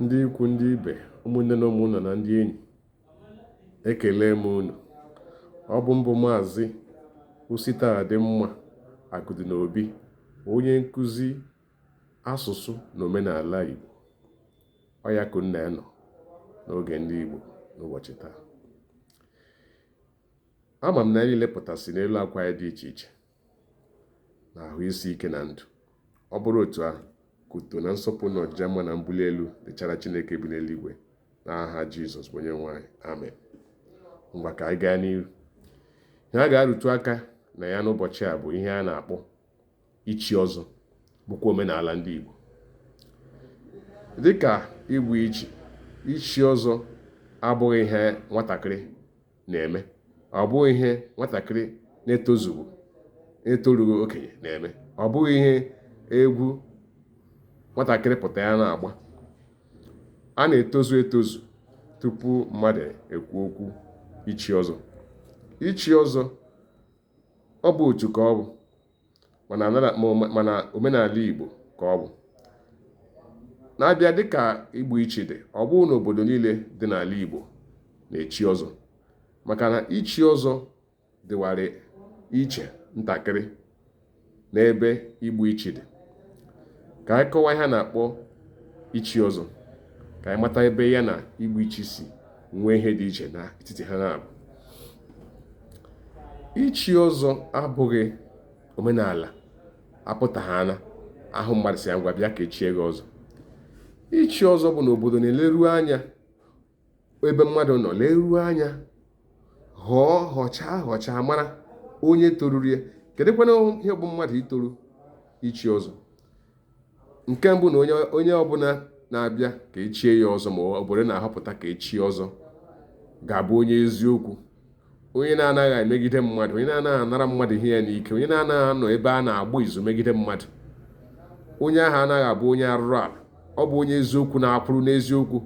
Ndị ikwu, ndị ibe, ụmụnne na ụmụnna na ndị enyi, ekele m unu. Ọ bụ m bụ maazị Ositadịmma Akụdịnobi, onye nkụzi asụsụ na omenala Igbo. Ọ ya ka unu na ya nọ n'oge ndị Igbo n'ụbọchị taa. Ama m na anyị lepụtasị n'elu akwa anyị dị iche iche na ahụ isi ike na ndụ ọ bụrụ otu ahụ ka otuto na nsọpụrụ na ọjịja mma na mbuli elu dịchara chineke bi n'eluigwe na aha jizọs bụ onye nwe anyị amen ngwa ka anyị gaa n'ihu ihe a ga-arụtụ aka na ya n'ụbọchị a bụ ihe a na-akpọ ichi ọzọ bụkwa omenala ndị igbo dịka igbu ichi ichi ọzọ abụghị ihe nwatakịrị na-eme ọ bụghị ihe nwatakịrị na-etozughị na-etorughị okenye na-eme ọ bụghị ihe egwu nwatakịrị pụta ya na-agba a na-etozu etozu tupu mmadụ ekwu okwu ichi ọzọ ichi ọzọ ọ bụ otu ka ọ bụ mana anara- ma ome- mana omenala Igbo ka ọ bụ na-abịa dịka igbu ichi dị ọ bụghị na obodo niile dị n'ala Igbo na-echi ọzọ maka na ichi ọzọ dịwara iche ntakịrị n'ebe igbu ichi dị ka anyị kọwaa ihe a na-akpọ ichi ọzọ ka anyị mata ebe ya na igbu ichi si nwee ihe dị iche n'etiti ha naabọ ichi ọzọ abụghị omenala a pụta a na-ahụ mmadụ sị ya ngwa bịa ka e chie gị ọzọ ichi ọzọ bụ na obodo na-eleru anya ebe mmadụ nọ leruo anya họọ họchaa họchaa mara onye toruru ya kedụkwanụ ihe bụ mmadụ itoru ichi ọzọ nke mbụ na onye ọbụla na-abịa ka e chie ya ọzọ ma obodo na-ahọpụta ka e chie ọzọ ga-abụ onye eziokwu onye na-anaghị emegide mmadụ onye na-anaghị anara mmadụ ihe ya n'ike onye na-anaghị anọ ebe a na-agba izu megide mmadụ onye ahụ anaghị abụ onye arụrụ ala ọ bụ onye eziokwu na-akwụrụ n'eziokwu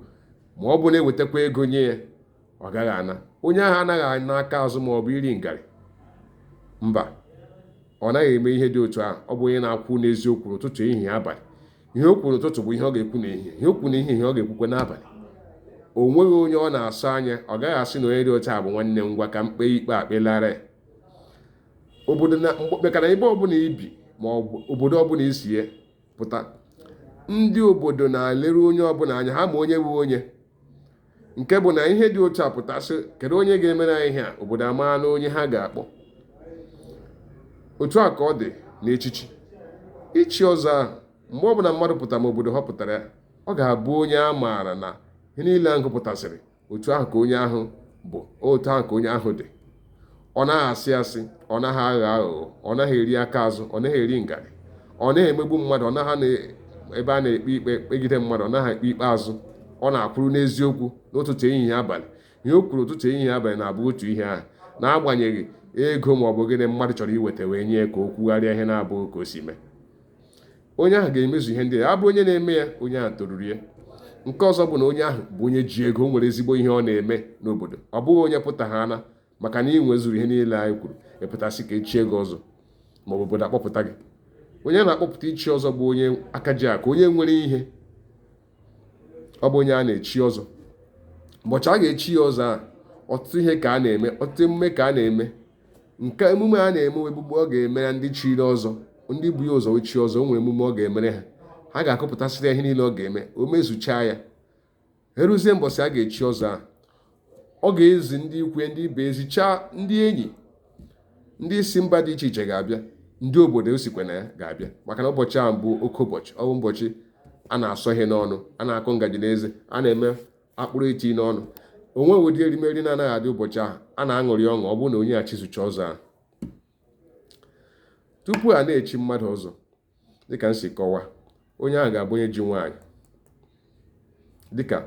ma ọ bụ na e wetakwa ego nye ya ọ gaghị ana onye ahụ anaghị ana aka azụ ma ọ bụ iri ngarị mba ọ naghị eme ihe dị otu ahụ ọ bụ onye na-akwụ n'eziokwu n'ụtụtụ ehihie abalị ihe o kwuru n'ụtụtụ bụ ihe ọ ga-ekwu n'ehihie ihe o kwuru n'ehihie ọ ga-ekwukwa n'abalị o nweghị onye ọ na-asọ anya ọ gaghị asị na onye dị otu a bụ nwanne m ngwa ka m kpee ikpe kpelara ya obodo na maka na ebe ọbụla i bi ma ọ bụ obodo ọbụla i si ya pụta ndị obodo na-eleru onye ọbụla anya ha ma onye bụ onye nke bụ na ihe dị otu a pụta sị kedu onye ga-emere anyị ihe a obodo amaala onye ha ga-akpọ otu a ka ọ dị n'echichi ichi ọzọ ahụ mgbe ọbụla mmadụ pụtara ma obodo họpụtara ya ọ ga-abụ onye a maara na ihe niile a m gụpụtasịrị otu ahụ ka onye ahụ bụ otu ahụ ka onye ahụ dị ọ naghị asị asị ọ naghị aghọ aghụghọ ọ naghị eri aka azụ ọ naghị eri ngarị ọ naghị emegbu mmadụ ọ naghị abịa na-ekpe ikpe kpegide mmadụ ọ naghị ekpe ikpe azụ ọ na-akwụrụ n'eziokwu n'ụtụtụ ehihie abalị ihe o kwuru ụtụtụ ehihie abalị na-abụ otu ihe ahụ n'agbanyeghị ego ma ọ bụ gịnị mmadụ chọrọ iweta wee nye ka o kwugharịa ihe na-abụghị ka o si mee onye ahụ ga-emezu ihe ndị a bụrụ onye na-eme ya onye ahụ toruru ya nke ọzọ bụ na onye ahụ bụ onye ji ego nwere ezigbo ihe ọ na-eme n'obodo ọ bụghị onye pụta ha ana maka na ị nwezuru ihe niile anyị kwuru ị pụta sị ka echie gị ọzọ ma ọ bụ obodo akpọpụta gị onye a na-akpọpụta ichi ọzọ bụ onye aka ji akụ onye nwere ihe ọ bụ onye a na-echi ọzọ ụbọchị a ga-echi ya ọzọ a ọtụtụ ihe ka a na-eme ọtụtụ emume ka a na-eme nke emume a na-eme egbugbu ọ ga-emere ndị chiri ọzọ ndị bu ya ụzọ chi ọzọ o nwere emume ọ ga-emere ha ha ga-akọpụtasịrị ihe niile ọ ga-eme o mezuchaa ya eruzie mbọsị a ga-echi ọzọ a ọ ga-ezi ndị ikwu ya ndị ibe ezichaa ndị enyi ndị si mba dị iche iche ga-abịa ndị obodo o sikwa na ya ga-abịa maka na ụbọchị ahụ bụ oke ụbọchị ọ bụ ụbọchị a na-asọ ihe n'ọnụ a na-akụ ngaji n'eze a na-eme akpụrụ eti n'ọnụ o nweghị ụdị erimeri na-anaghị adị ụbọchị ahụ a na-aṅụrị ọṅụ ọ bụrụ na onye a chizucha ọzọ ahụ tupu a na-echi mmadụ ọzọ dịka m si kọwaa onye ahụ ga-abụ onye ji nwaanyị dịka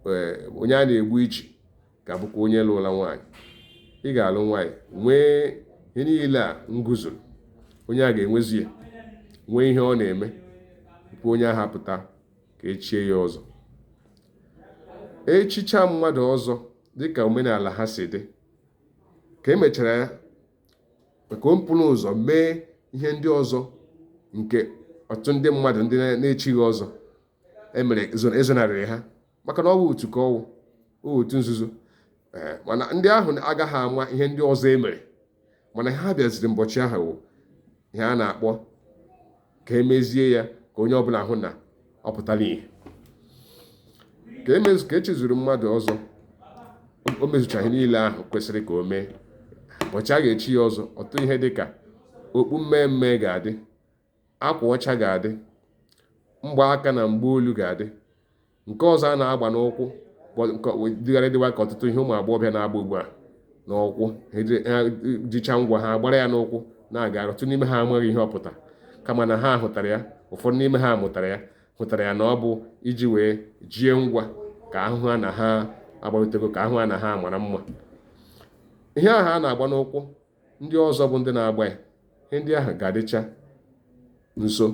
eh, onye a na-egbu ichi ga-abụkwa onye lụla nwaanyị ị ga-alụ nwaanyị nwee ihe niile a m gụzuru onye a ga-enwezi ya nwee ihe ọ na-eme tupu onye ahụ apụta ka echie ya ọzọ echicha mmadụ ọzọ dịka omenala ha si dị ka emechara ya maka o buru ụzọ mee ihe ndị ọzọ nke ọtụtụ ndị mmadụ ndị na-echighị ọzọ emere ezonarịrị ha maka na ọ bụ otu ka ọ wụ otu nzuzo eh, mana ndị ahụ agaghị ama ihe ndị ọzọ emere mana ha bịaziri mbọchị ahụ ihe a na-akpọ ka emezie ya ka onye ọbụla hụ na ọ pụtara ihe ka emezu ka echizuru mmadụ ọzọ o mezucha ihe niile ahụ kwesịrị ka o mee ụbọchị a ga-echi ya ọzọ ọtụtụ ihe dị ka okpu mmee mmee ga-adị akwa ọcha ga-adị mgbaaka na mgbaolu ga-adị nke ọzọ a na-agba n'ụkwụ dịgharị dịwa ka ọtụtụ ihe ụmụ agbọghọbịa na-agba ugbu a n'ụkwụ jicha ngwa ha gbara ya n'ụkwụ na-aga ọtụtụ n'ime ha amaghị ihe ọ pụtara kama na ha hụtara ya ụfọdụ n'ime ha mụtara ya hụtara ya na ọ bụ iji wee jie ngwa ka ahụ ha na ha agbarịtego ka ahụ ha na ha mara mma ihe ahụ a na-agba n'ụkwụ ndị ọzọ bụ ndị na-agba ya ihe ndị ahụ ga-adịcha nso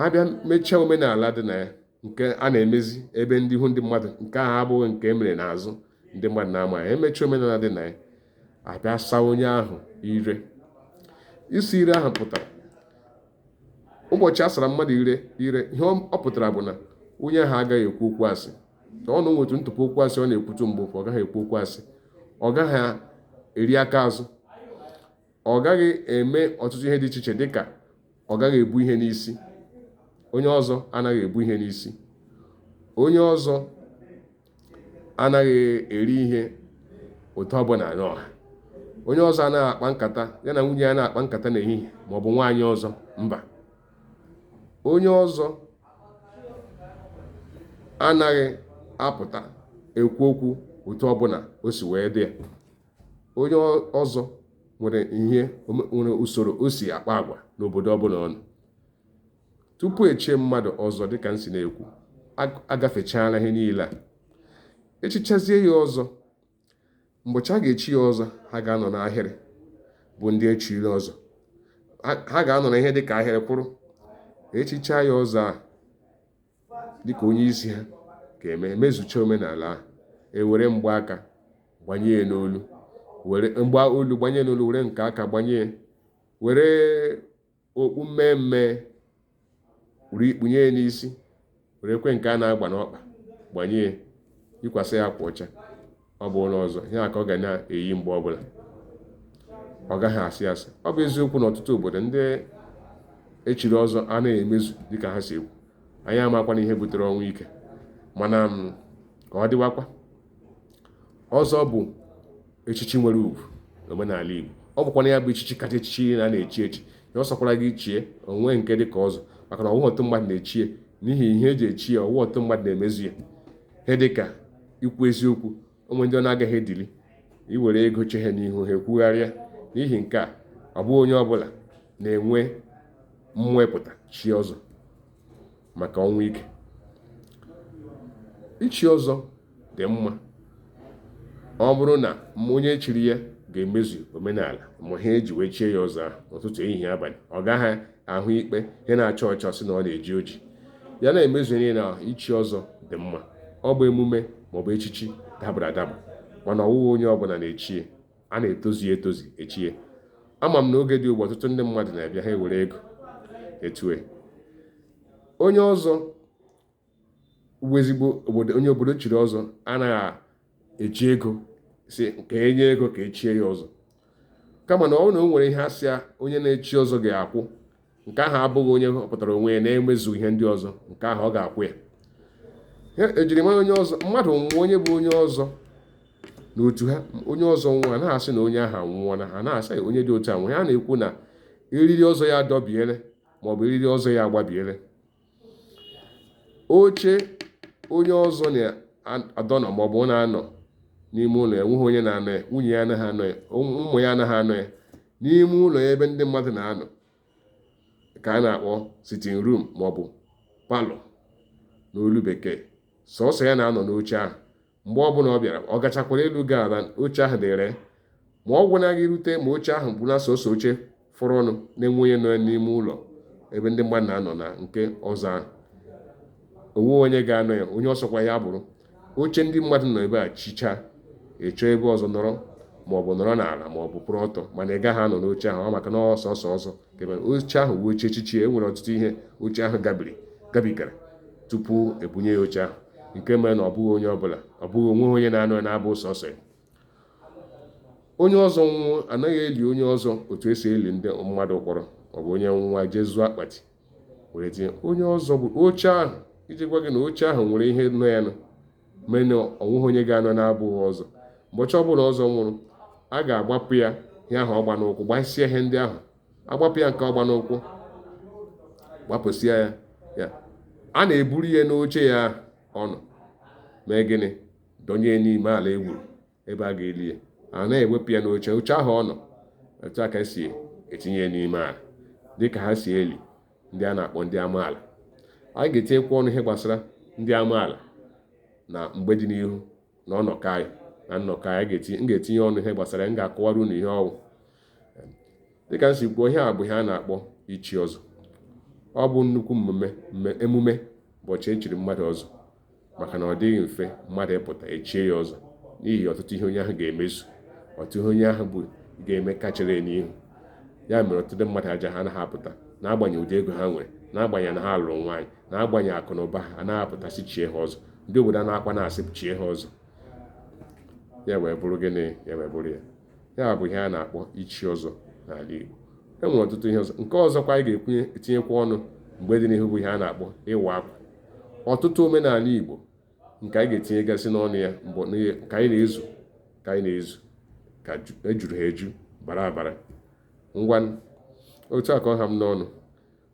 abịa mechaa omenala dị na ya nke a na-emezi ebe ndị ihu ndị mmadụ nke ahụ abụghị nke emere n'azụ ndị mmadụ na-ama ya emechaa omenala dị na ya abịa saa onye ahụ ire ịsa ire ahụ pụtara ụbọchị a sara mmadụ ire ihe ọ pụtara bụ na onye ahụ agaghị ekwu okwu asị o nwetu ntụpụ okwu asị ọ na-ekwutu mbụ ọ gaghị ekwu okwu asị ọ gaghị eri aka azụ ọ gaghị eme ọtụtụ ihe dị iche iche dịka ọ gaghị ebu ihe n'isi onye ọzọ anaghị ebu ihe n'isi onye ọzọ anaghị eri ihe otu ọbụla n'ọha onye ọzọ anaghị akpa nkata ya na nwunye ya na-akpa nkata n'ehihie ma ọ bụ nwaanyị ọzọ mba onye ọzọ anaghị apụta ekwu okwu otu ọbụla o si wee dị ya onye ọzọ nwere usoro o si akpa agwa n'obodo ọbụla ọ nọ tupu echie mmadụ ọzọ dịka m si na-ekwu agafechaala ihe niile a echichazie ya ọzọ mbọchị a ga-echi ya ọzọ ha ga-anọ n'ahịrị bụ ndị echiri ọzọ ha ga-anọ na ihe dịka ahịrị kwụrụ echicha ya ọzọ a dịka onye isi ha ga-eme emezucha omenala ahụ ewere mgbaaka gbanye ya n'olu were mgba olu gbanye n'olu were nke aka gbanye ya were okpu mmee mmee were kpunye ya n'isi werekwa nke a na-agba n'ọkpa gbanye ya yikwasị ya akwa ọcha ọ bụ onye ọzọ ihe a ka ọ ga na-eyi mgbe ọbụla ọ gaghị asị asị ọ bụ eziokwu na ọtụtụ obodo ndị echiri ọzọ anaghị emezu dịka ha si ekwu anyị amakwana ihe butere ọnwụ ike mana mm, ka ọ dịwakwa ọzọ bụ echichi nwere ugwu n'omenala Igbo ọ bụkwana ya bụ echichi kacha echichi na a na-echi echi ya ọ sọkwara gị chie o nweghị nke dị ka ọzọ maka na ọ wụghị ọtụtụ mmadụ na-echie n'ihi ihe eji echi ya ọ wụghị ọtụtụ mmadụ na-emezu ya ihe dịka ikwu eziokwu o nwe ndị ọ na-agaghị edili i were ego che ha n'ihu ha ekwugharịa n'ihi nke a ọ bụghị onye ọbụla na-enwe mmapụta chie ọzọ maka ọnwụ ike ichi ọzọ dị mma ọ bụrụ na onye chiri ya ga-emezu omenala ma ihe eji wee chie ya ọzọ ahụ ụtụtụ ehihie abalị ọ gaghị ahụ ikpe ihe na-acha ọcha sị na ọ na-eji oji ya na-emezu ihe na ichi ọzọ dị mma ọ bụ emume maọbụ echichi dabara adaba mana ọ wụghị onye ọbụla na-echie a na-etozi etozi echie ama m na oge dị ugbu ọtụtụ ndị mmadụ na-abịa ha ewere ego etue onye ọzọ bụ ezigbo onye obodo chiri ọzọ anaghị eji ego sị ka enye ego ka echie ya ọzọ kama na ọ na o nwere ihe a sị onye na-echi ọzọ ga-akwụ nke ahụ abụghị onye họpụtara onwe ya na-emezu ihe ndị ọzọ nke ahụ ọ ga-akwụ ya ejirimara onye ọzọ mmadụ nwụọ onye bụ onye ọzọ n'otu ha onye ọzọ nwụọ anaghị asị na onye ahụ anwụọla ha na-asị onye dị otu a nwụọ ha na-ekwu na eriri ọzọ ya adọbiele maọbụ eriri ọzọ ya agbabiele oche onye ọzọ na-adọnọ maọbụ ọ na-anọ n'ime ụlọ ya o nweghị onye na-anọ ya nwunye ya anaghị anọ ya ụmụ ya anaghị anọ ya n'ime ụlọ ya ebe ndị mmadụ na-anọ ka a na-akpọ sitting room maọbụ parlour n'olu bekee sọsọ ya na-anọ n'oche ahụ mgbe ọbụla ọ bịara ọ gachakwara elu gaa ala oche ahụ dịrị ma ọ gwụna gị rute ma oche ahụ bụ na sọsọ oche fọrọ ọnụ na-enweghị onye nọ n'ime ụlọ ebe ndị mmadụ na-anọ na nke ọzọ ahụ o nweghị onye ga-anọ ya onye ọ sọkwa ya bụrụ oche ndị mmadụ nọ ebe a chichaa ị chọọ ebe ọzọ nọrọ ma ọ bụ nọrọ n'ala ma ọ bụ kwụrụ ọtọ mana ị gaghị anọ n'oche ahụ ọ maka na ọ sọsọ ọzọ oche ahụ wụ oche echichi e nwere ọtụtụ ihe oche ahụ gabiri gabigara tupu ebunye ya oche ahụ nke mere na ọ bụghị onye ọbụla ọ bụghị o nweghị onye na-anọ ya na-abụghị sọsọ ya onye ọzọ nwụọ anaghị eli onye ọzọ otu esi eli ndị mmadụ kpọrọ ọ bụ onye nwụọ e jee zụọ akpati were tinye onye ọzọ bụ oche ahụ iji gwa gị na oche ahụ nwere ihe nọ ya nọ mee na o nweghị onye ga-anọ na-abụghị ọzọ ụbọchị ọbụla ọzọ nwụrụ a ga-agbapụ ya ihe ahụ ọ gba n'ụkwụ gbasịa ihe ndị ahụ agbapụ ya nke ọ gba n'ụkwụ gbapụsịa ya a na-eburu ya n'oche ya ọ nọ mee gịnị dọnye n'ime ala e gwuru ebe a ga-eli ya anaghị ewepụ ya n'oche oche ahụ ọ nọ otu a ka esi etinye n'ime ala dịka ha si eli ndị a na-akpọ ndị amaala anyị ga-etinyekwa ọnụ ihe gbasara ndị amaala na mgbe dị n'ihu na ọnọkọ anyị na nnọkọ anyị m ga-etinye ọnụ ihe gbasara m ga-akọwara unu ihe ọ wụ dịka m si kwuo ihe a bụ ihe a na-akpọ ichi ọzọ ọ bụ nnukwu emume ụbọchị echiri mmadụ ọzọ maka na ọ dịghị mfe mmadụ ịpụta echie ya ọzọ n'ihi ọtụtụ ihe onye ahụ ga-emezu ọtụtụ ihe onye ahụ bụ ga-eme ka chere n'ihu ya mere ọtụtụ mmadụ ejighị apụta n'agbanyeghị ụdị ego ha nwere n'agbanyeghị na ha lụrụ nwaanyị n'agbanyeghị akụ na ụba ha anaghị apụta sị chie ha ọzọ ndị obodo a na-akwa na-asị chie ha ọzọ ya wee bụrụ gịnị ya wee bụrụ ya ya bụ ihe a na-akpọ ichi ọzọ n'ala Igbo e nwere ọtụtụ ihe ọzọ nke ọzọkwa anyị ga-ekwunye etinyekwa ọnụ mgbe dị n'ihu bụ ihe a na-akpọ ịwa akwa ọtụtụ omenala Igbo nke anyị ga-etinyegasị n'ọnụ ya mbụ ka anyị na-ezu ka anyị na-ezu ka ejuru ha eju bara abara ngwanụ otu a ka ọ ha m n'ọnụ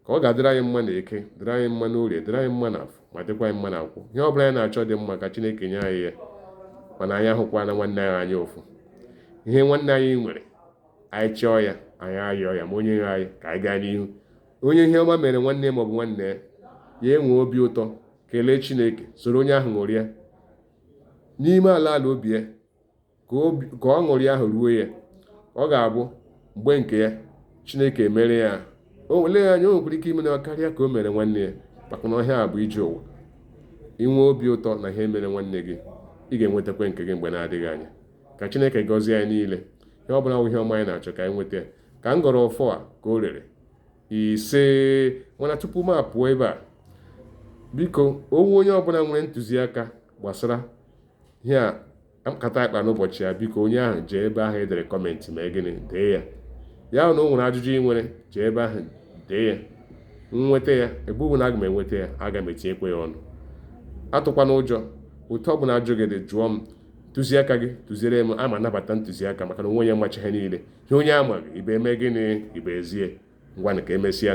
ka ọ ga-adịrị anyị mma n'eke dịrị anyị mma n'orie dịrị anyị mma n'afọ ma dịkwa anyị mma na nkwọ ihe ọ bụla anyị na-achọ dị mma ka chineke nye anyị ya mana anyị ahụkwana nwanne anyị anya ụfụ ihe nwanne anyị nwere anyị chọọ ya anyị ayọọ ya ma onye nwe anyị ka anyị gaa n'ihu onye ihe ọma mere nwanne maọbụ nwanne ya ya enwee obi ụtọ kelee chineke soro onye ahụ ṅụrịa n'ime ala ala obi ya ka aṅụrị ahụ ruo ya ọ ga-abụ mgbe nke ya chineke emere ya o wele ya anya o nwekwara ike imere ya karịa ka o mere nwanne ya maka na ọ ihe a bụ ije ụwa inwe obi ụtọ na ihe mere nwanne gị ị ga-enwetakwa nke gị mgbe na-adịghị anya ka chineke gọzie anyị niile ihe ọ bụla ihe ọma anyị na-achọ ka anyị nweta ya ka m gọrọ ọfọ a ka o rere isee mana tupu m apụọ ebe a biko o nwee onye ọbụla nwere ntụziaka gbasara ihe a nkata a kpara n'ụbọchị ya biko onye ahụ jee ebe ahụ e dere comment mee gịnị dee ya ya na o nwere ajụjụ ị nwere jee ebe ahụ dee ya nweta ya ebe ọ bụla aga m enweta ya aga m etinyekwa ya ọnụ atụkwana ụjọ otu ọ bụla ajụjụ gị dị jụọ m ntụziaka gị tụziere m ana m anabata ntụziaka maka na o nweghị onye macha ihe niile ihe onye amaghị ibe eme gịnị ibe ezi ya ngwanụ ka emesịa